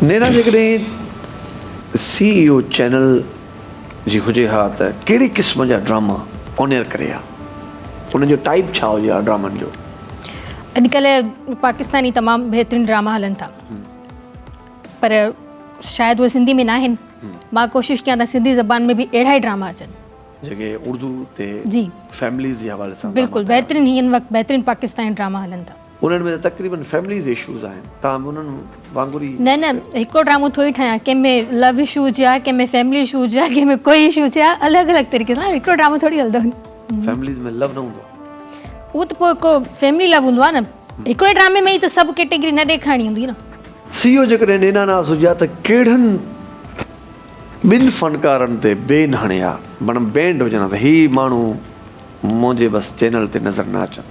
نينا جيڪڏهن C E O channel جي هجي ها ته ڪهڙي قسم جا ڊراما آن ايئر ڪري ها؟ انهن جو ٽائيپ ڇا هجي ها ڊرامن جو؟ اڄڪلهه پاڪستاني تمام بهترين ڊراما هلن ٿا پر شايد اهي سنڌي ۾ ناهن مان ڪوشش ڪيان ته سنڌي زبان ۾ به اهڙا ئي ڊراما اچن جيڪي اردو تي فيمليز جي حوالي سان بلڪل بهترين هي هن وقت بهترين پاڪستاني ڊراما هلن ٿا. انهن ۾ ته تقريبن فيمليز اشوز آهن تاهم انهن وانگر ئي. نه نه هڪڙو ڊرامو ٿوري ٺاهيان ڪنهن ۾ لو اشو هجي ها ڪنهن ۾ فيملي اشو هجي ها ڪنهن ۾ ڪوئي اشو هجي ها الڳ الڳ طريقي سان هڪڙو ڊرامو ٿوري هلندو فيمليز ۾ لو نه هوندو آهي اهو ته پوء هڪڙو فيملي لو هوندو آهي نه هڪڙي ڊرامي ۾ ئي ته سڀ ڪيٽيگري نه ڏيکارڻي هوندي نه. سي او جيڪڏهن نينا ناز هجي ها ته ڪهڙن ٻن فنڪارن تي بين هڻي ها بڻ بينڊ هجن ها ته هي ماڻهو منهنجي بس چينل تي نظر نه اچن.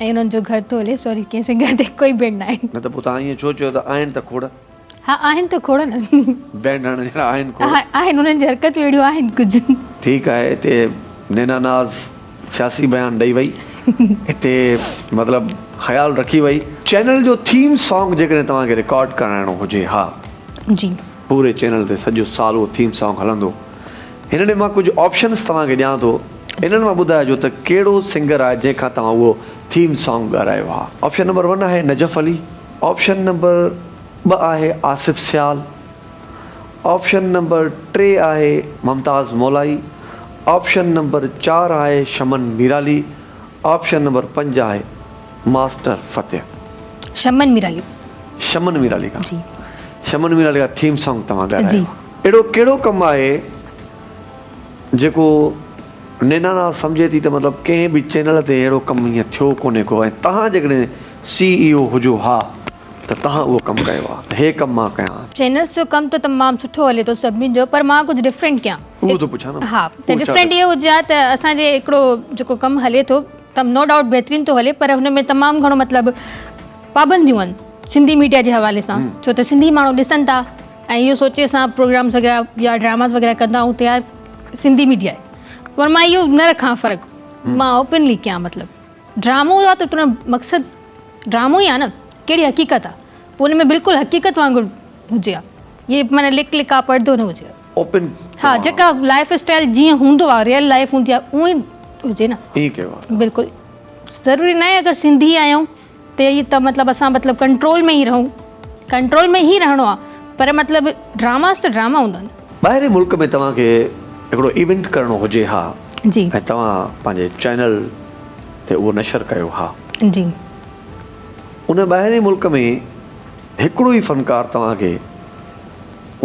۽ انهن جو گهر ٿو هلي. سوري ڪنهن سنگهه تي ڪوئي ڀيڻ ناهي. نه ته پوء توهان ائين ڇو چيو ته آهن ته کوڙ. ها آهن ته کوڙ نه. بينڊ هڻڻ جهڙا آهن کوڙ. ها آهن انهن جي حرڪتون اهڙيون آهن ڪجهه. ٺيڪ آهي اتي نينا ناز سياسي بيان ڏئي وئي اتي مطلب خيال رکي وئي. چينل جو ٿيم سانگ جيڪڏهن توهان کي رڪارڊ ڪرائڻو هجي ها. جي. پوري چينل تي سڄو سال اهو ٿيم سانگ هلندو. هن ڏي مان ڪجهه آپشنز توهان کي ڏيان ٿو انهن مان ٻڌائجو ته ڪهڙو سنگر آهي جنهن کان توهان اهو ٿيم سانگ ڳارهايو آهي. آپشن نمبر ون آهي نجف علي. آپشن نمبر ٻه آهي آصف سيال. آپشن نمبر ٽي آهي ممتاز مولائي. آپشن نمبر چار آهي شمن ميرالي. آپشن نمبر پنج آهي. ماسٽر فتح. شمن مير علي. شمن مير علي کان. جي. شمن مير علي کان ٿيم سانگ توهان ڳارايو. جي. اهڙو ڪهڙو ڪم آهي جيڪو نينانا سمجهي ٿي ته مطلب ڪنهن به چينل تي اهڙو ڪم ايئن ٿيو ڪونهي ڪو ۽ توهان جيڪڏهن سي اي او هجو ها ته توهان اهو ڪم ڪيو ها ته هي ڪم مان ڪيان ها. چينلز جو ڪم ته تمام سٺو هلي ٿو سڀني جو پر مان ڪجهه ڊفرنٽ ڪيان. اهو ٿو پڇان نه. ها ته ڊفرنٽ اهو هجي ها ته اسان جي هڪڙو جيڪو ڪم هلي ٿو. ته نو ڊائوٽ بهترين ٿو هلي پر هن ۾ تمام گهڻو مطلب پابنديون آهن سنڌي ميڊيا جي حوالي سان ڇو ته سنڌي ماڻهو ڏسن ٿا ۽ اهو سوچي اسان پروگرامز وغيره يا ڊراماز وغيره ڪندا آهيون ته يار سنڌي ميڊيا آهي پر مان اهو نه رکان فرق مان اوپنلي ڪيان مطلب ڊرامو آهي ته ان مقصد ڊرامو ئي آهي نه ڪهڙي حقيقت آهي پوء ان ۾ بلڪل حقيقت وانگر هجي ها ائين معنيٰ لڪ لڪاء پڙدو نه هجي ها ها جيڪا لائيف اسٽائيل جيئن هوندو آهي ريئل لائيف هوندي آهي اهو ئي هجي نه بلڪل ضروري ناهي اگر سنڌي آهيون ته هي ته مطلب اسان مطلب ڪنٽرول ۾ ئي رهون ڪنٽرول ۾ ئي رهڻو آهي پر مطلب ڊراماز ته ڊراما هوندا آهن. ٻاهرين ملڪ ۾ توهان کي هڪڙو ايونٽ ڪرڻو هجي ها جي ۽ توهان پنهنجي چينل تي اهو نشر ڪيو ها جي ان ٻاهرين ملڪ ۾ هڪڙو ئي فنڪار توهان کي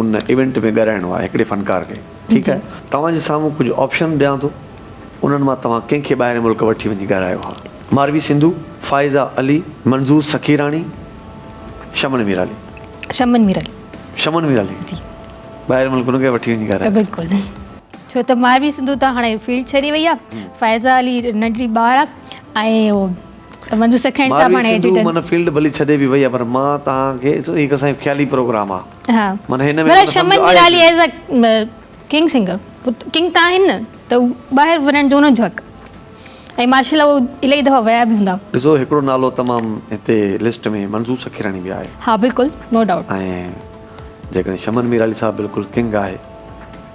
ان ايونٽ ۾ ڳرائڻو آهي هڪڙي فنڪار کي ٺيڪ آهي توهان جي سامهون ڪجهه آپشن ڏيان ٿو انهن مان توهان ڪنهن کي ٻاهرين ملڪ وٺي وڃي ڳرائيو ها ماروي سنڌو فائزه علي منظور سخيراڻي شمن ميرالي شمن ميرالي شمن ميرالي جي ٻاهرين ملڪ انهن کي وٺي وڃي ڳرائيو بلڪل ڇو ته ماروي سنڌو ته هاڻي فيلڊ ڇڏي وئي آهي فائزه علي ننڍڙي ٻار آهي ۽ ماروي سنڌو من فيلڊ ڀلي ڇڏي به وئي آ پر مان توهان کي هي هڪ اسان جو خيالي پروگرام آ من هن ۾ ڪو سمجهه آهي نه ڏسو هڪڙو نالو تمام هتي لسٽ ۾ منظور سکيراڻي به آهي ۽ جيڪڏهن شمن ميرالي صاحب بلڪل ڪنگ آهي.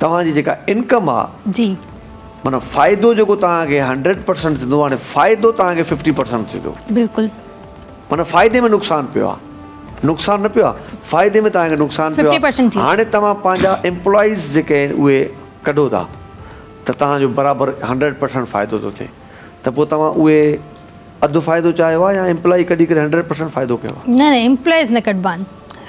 توهان جي جيڪا انڪم آ جي معنيٰ فائدو جيڪو توهان کي هنڊريڊ پرسنٽ ٿيندو هاڻي فائدو توهان کي ففٽي پرسنٽ ٿيندو بلڪل معنيٰ فائدي ۾ نقصان پيو آ نقصان نه پيو آ فائدي ۾ توهان کي نقصان پيو آ هاڻي توهان پنهنجا امپلائيز جيڪي آهن اهي ڪڍو ٿا ته توهان جو برابر هنڊريڊ پرسنٽ فائدو ٿو ٿئي ته پوء توهان اهي اڌ فائدو چاهيو آ يا امپلائي ڪڍي ڪري هنڊريڊ پرسنٽ فائدو ڪيو آ نه نه امپلائيز نه ڪڍبا آهن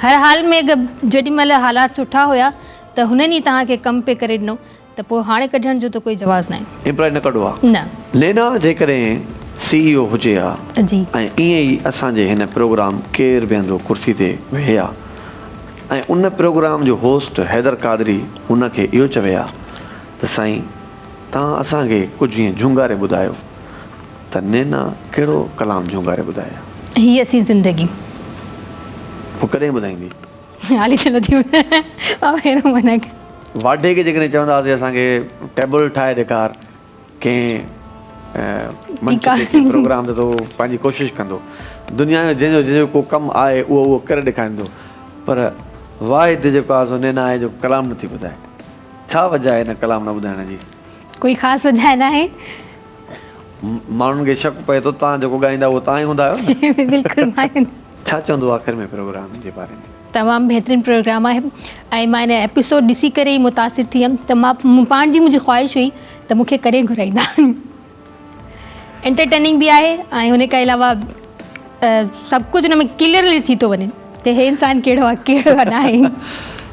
هر حال ۾ جيڏي مهل حالات سٺا هيا ته هنن ئي توهان کي ڪم پئي ڪري ڏنو ته پوء هاڻي ڪڍڻ جو ته ڪوئي جواز ناهي. امپلائي نه ڪڍو آ. نه. لينا جيڪڏهن سي اي او هجي ها جي. ۽ ائين ئي اسان جي هن پروگرام ڪير بيهندو ڪرسي تي ويهي ها ۽ ان پروگرام جو هوسٽ حيدر قادري هن کي اهو چوي ها ته سائين توهان اسان کي ڪجهه ائين جهونگاري ٻڌايو ته نينا ڪهڙو ڪلام جهونگاري ٻڌائي ها. هي اسين زندگي. پوء ڪڏهن ٻڌائيندي. علي چلو جي بابا هيرو منهنجا ڪيا. واڍي کي جيڪڏهن چوندا هئاسين اسان کي ٽيبل ٺاهي ڏيکار ڪنهن منچ تي ڪنهن پروگرام تي ته هو پنهنجي ڪوشش ڪندو دنيا جو جنهن جو جنهن جو ڪو ڪم آهي اهو اهو ڪري ڏيکاريندو پر واحد جيڪو آهي سو نينا آهي جو ڪلام نٿي ٻڌائي ڇا وجهه آهي ان ڪلام نه ٻڌائڻ جي؟ ڪوئي خاص وجهه ناهي ماڻهن کي شڪ پئي ٿو توهان جيڪو ڳائيندا اهو توهان ئي هوندا آهيو نه بلڪل مان ئي ڇا چوندو آخر ۾ پروگرام جي باري ۾. تمام بهترين پروگرام آهي ۽ مان هن ايپيسوڊ ڏسي ڪري ئي متاثر ٿي هيم ته مان مون پاڻ جي منهنجي خواهش هئي ته مون کي ڪڏهن گهرائيندا انٽرٽيننگ به آهي ۽ ان کان علاوه سڀ ڪجهه ان ۾ ڪليئرلي ٿي ٿو وڃي ته هي انسان ڪهڙو آهي ڪهڙو ناهي